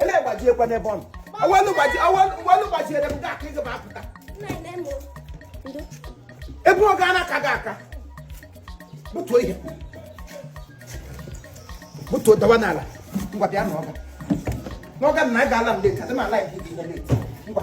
ele gbajiekwa n'ebe ọ nọ awelu gbaji awelu gbajiere m gị aka ị gbapụta ebe ọ ga na-aka gị aka butuo ihe butuo dawa n'ala ngwa bịa na ọga n'ọga na anyị ga-ala m leta dị m ala ya ngwa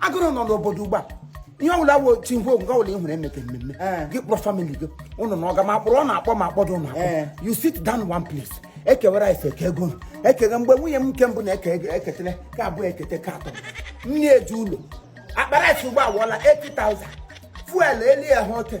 agụrụ nọ n'obodo ugbu a ihe ọbụla wo tingwo nke ọbụla ị hụrụ emeke mmemme Eh. gị kpọrọ family gị ụnụ na ọga ma kpọrọ ọ na-akpọ ma akpọdo ụnụ akpọ Eh. you sit down one place ekewere anyị eke ego ụnụ. ekega mgbe nwunye m nke mbụ na-eke ego ekete nke abụọ ekete nke atọ nne eji ụlọ akpara esi ụgbọ awụọla 80,000 fuel elie ha ote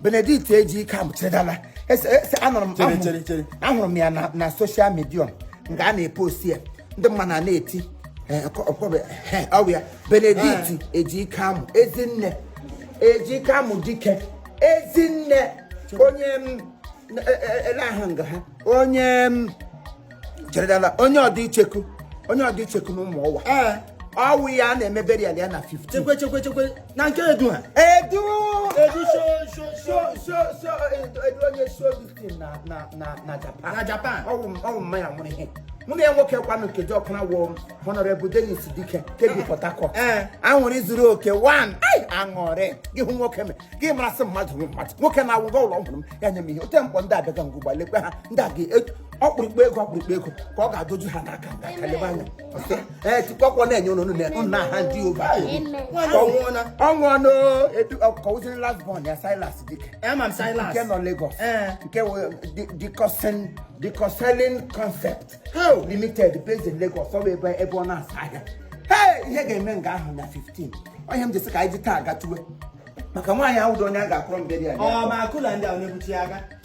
Benedict Ejikem cheredala Ese- ese- anụrụ m- Chere, ahụrụ- chere, chere. ahụrụ m ya na- na social media nga a na-epost ya ndị mmadụ a na-eti eh, ọkọ- ọkọ- eh, ọ bụ ya Benedict Ejikem ezinne Ejikem Dike ezinne onye m- eh, eh, eh, ele ahụ nga ha onye m- cheredala onye Odicheku onye Odicheku na Ụmụọwa ee ọ wụ ya a na-eme burial ya na 15 chekwe chekwe chekwe na nke edu ha edu edu so so so so so edu edu onye so dịtin na na na na japan na japan ọ wụ m- ọ wụ mma ya nwụrụ ihe mụ na ya nwoke kwanụ nkeji ọkụna wụ honorable Dennis Dike ke bi Port Harcourt Ee. aṅụrị zuru oke one ai aṅụrị gị hụ nwoke me gị marasị mmadụ hụ mmadụ nwoke na-awụ gị ụlọ ọgwụrụ m ya nye m ihe otimkpu ndị abịaga ngwụgba lekwe ha ndị a ga- e- ọkpụrụkpụ ego ọkpụrụkpụ ego ka ọ ga-adoju ha n'aka ka lebe anya ee tikwakwọ na-enye ụnụ nna ha ndị ụba ọnwụọnụ edu ọkọwụziri last born ya Silas Dike nke nọ Lagos nke dikosin dikoselin concept limited based in Lagos ọ bụ ebe ebe ọ na-asa ahịa ee ihe ga-eme nga ahụ na 15 ọ ihe m ji sị ka anyị ji taa gatuwe maka nwaanyị a wụdị onye a ga-akụrọ mberi ya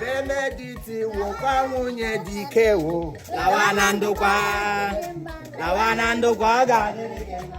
Benedict wụkwa nwunye Dike wo lawa na ndokwa lawa na ndokwa ọ ga-adịrị gị mma.